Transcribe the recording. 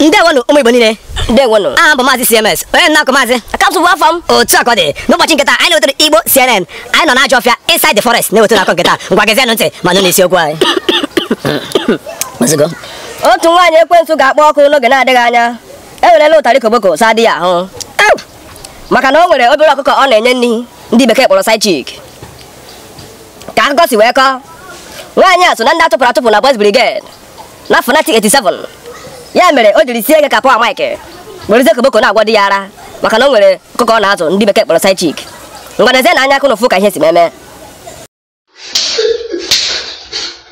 ndewonụ ụmụ igbo niile ndewonụ aha m bụ maazị cms onye na-akụ maazị akapsụ bụ afọ m otu a ka ọ dị n'ụbọchị nketa anyị na-ewetara igbo cnn anyị nọ n'ajọ ọfịa inside the forest na-ewetara akụkọ nketa ngwa gezienụ ntị ma nụ n'isiokwu anyị Ozugbo. otu nwaanyị ekwensu ga-akpọ ọkụ n'oge na-adịghị anya ewerela ụtarị koboko saa di ya ahụ Ew! maka na o nwere obere ọkụkọ ọ na-enye nri ndị bekee kpọrọ side chick ka akụkọ si wee kọọ nwaanyị a so na ndị a tụpụrụ atụpụ na Boys Brigade na 1987 ya mere o jiri sie ike ka Power Mike werezie koboko na-agwọ di ya ara maka na o nwere ọkụkọ ọ na-azụ ndị bekee kpọrọ side chick ngwa nezienụ anya ka ụnụ fụ ka ihe si meme